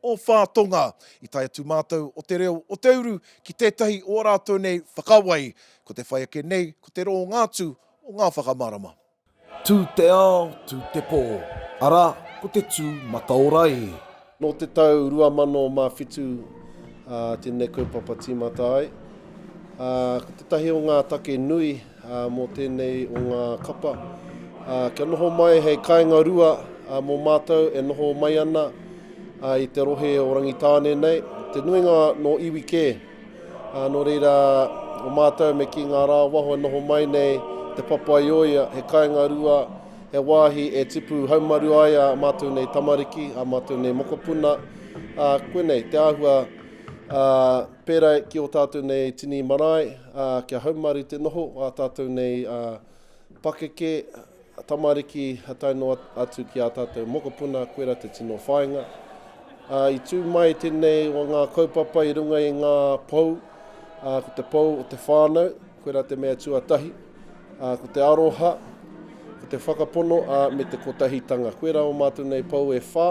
o Whātonga. I tae atu mātou o Te Reo o Te Uru ki tētahi o ō rātou nei whakawai, ko te whai ake nei ko te rōnga atu o ngā whakamārama. Tū te ao, tū te pō, arā, ko te tū mataora e. Nō te tau 2007 tēnei kaupapa tīmata ai, ko tētahi o ngā take nui, mō tēnei o ngā kapa kia noho mai hei kāinga rua mō mātou e noho mai ana i te rohe o Rangitāne nei, te nuinga nō iwi kē. Nō reira, o mātou me kī ngā rā waho e noho mai nei Te Papaioea, he kāinga rua, he wāhi e tipu haumaru ai ā mātou nei tamariki, ā mātou nei mokopuna, koinei te āhua Pērā ki ō tātou nei tini marae, ā, kia haumaru te noho ā tātou nei pakeke, tamariki tae noa atu ki ā tātou mokopuna, koirā te tino whāinga. Ā, i tū mai tēnei o ngā kaupapa i runga i ngā pou, ā, ko te pou o te whānau, Koirā te mea tuatahi, ā, ko te aroha, ko te whakapono, ā, me te kotahitanga. Koirā ō mātou nei pou e whā,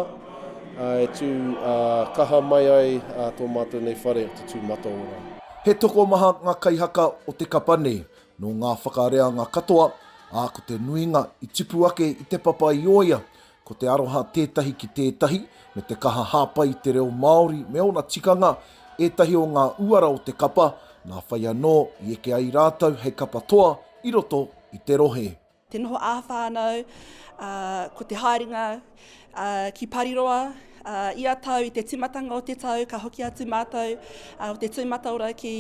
ā, e tū, ā, kaha mai ai, ā, tō mātou nei whare o te tū mataora. He tokomaha ngā kaihaka o te kapa nei, nō ngā whakareanga katoa, ā, ko te nuinga i tipu ake i te papa i ōia, Ko te aroha tētahi ki tētahi, me te kaha hāpai i te reo Māori me ōna tikanga, ētahi o ngā uara o te kapa, nā whai anō i eke ai rātou hei kapa toa i roto i te rohe. Te noho ā-whānau, ko te haerenga ki Pariroa, Uh, ia tau, i te timatanga o te tau, ka hoki atu mātou uh, o te tui mataora ki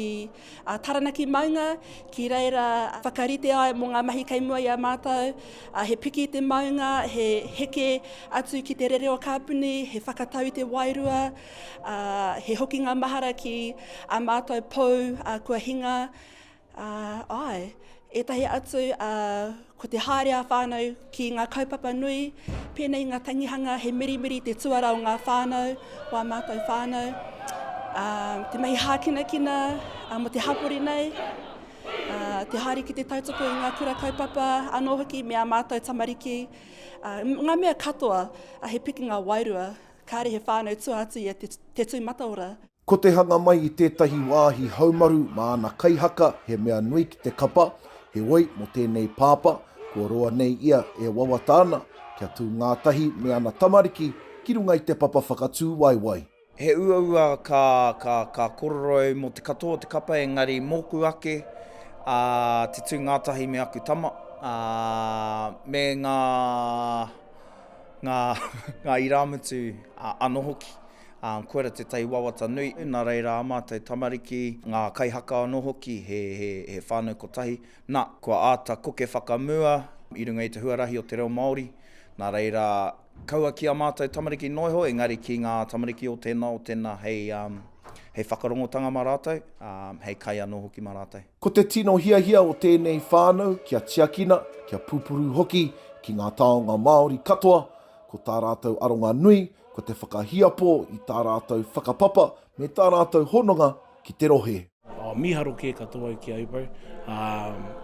uh, Taranaki Maunga, ki reira whakarite ai mō ngā mahi kei mua i a mātou. Uh, he piki te maunga, he heke atu ki te rere o kāpuni, he whakatau i te wairua, uh, he hokinga mahara ki a mātou pou uh, kua hinga. Ā, āe, ētahi atu, ā, ko te haere ā-whānau ki ngā kaupapa nui, pēnei i ngā tangihanga, he mirimiri te tuara o ngā whānau, o ā mātou whānau, ā, te mahi hākinakina, ā, mō te hapori nei, ā, te haere ki te tautoko i ngā kura kaupapa, anō hoki me ā mātou tamariki, ā, ngā mea katoa, ā, he pikinga wairua, kāre he whānau tua atu ia te, te tū mataora. Ko te hanga mai i tētahi wāhi haumaru mā ana kaihaka he mea nui ki te kapa, heoi mō tēnei pāpā, kua roa nei ia e wawata ana kia tū ngātahi me ana tamariki ki runga i te papa whakatū waewae. He uaua ka kororoi mō te katoa o te kapa engari mōku ake te tū ngātahi me aku tama me ngā irāmutu anō hoki. Ā, kua ora te tai wawata nui, nā reira ā mātou tamariki, ngā kaihaka anō hoki, he, he, he whānau kotahi, nā, kua āta koke whakamua i runga i te huarahi o te reo Māori, nā reira, kaua ki ā mātou tamariki noa iho, engari ki ngā tamariki o tēnā, o tēnā, hei, hei whakarongotanga mā rātou, ā, hei kai anō hoki mā rātou. Ko te tino hiahia o tēnei whānau kia tiakina, kia pupuru hoki ki ngā taonga Māori katoa, ko tā rātou aronga nui, ko te whakahiapo i tā rātou whakapapa me tā rātou hononga ki te rohe. Mīharo kē katoa au ki a Ubo,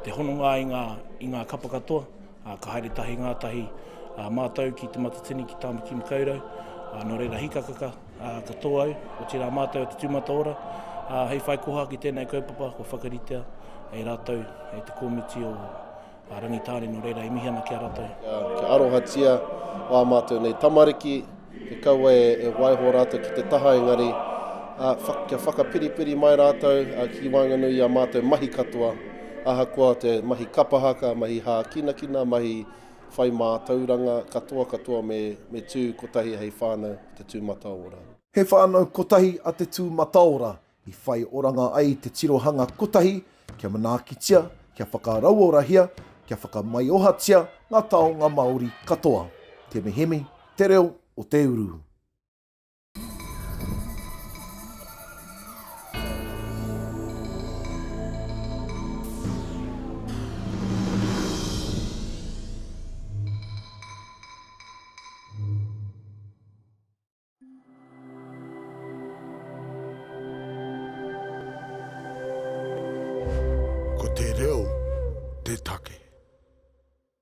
te hononga i ngā, i ngā kapa katoa, ka haere tahi ngātahi mātou ki Te Matatini, ki Tāmaki Makaurau, nō reira hikakaka katoa au, otirā mātou o Te Tūmata Ora, hei whai koha ki tēnei kaupapa kua whakaritea e rātou, e te komiti o. a Rangitāne nō reira e mihi ana ki a ratou. Kia arohatia wā mātou nei tamariki, kia kaua e, e waiho rātou ki te taha engari, a, whak, kia whakapiripiri mai rātou a, ki waenganui i a mātou mahi katoa, ahakoa te mahi kapahaka, mahi hākinakina, mahi whai mātauranga katoa katoa me, me tū kotahi hei whānau te tūmataora. He whānau kotahi a te tūmataora, i whai oranga ai te tirohanga kotahi kia manaakitia, kia whakarauorahia, kia whakamaiohatia ngā taonga Māori katoa. Te Mihimi, Te Reo o te Uru. Ko te reo te take.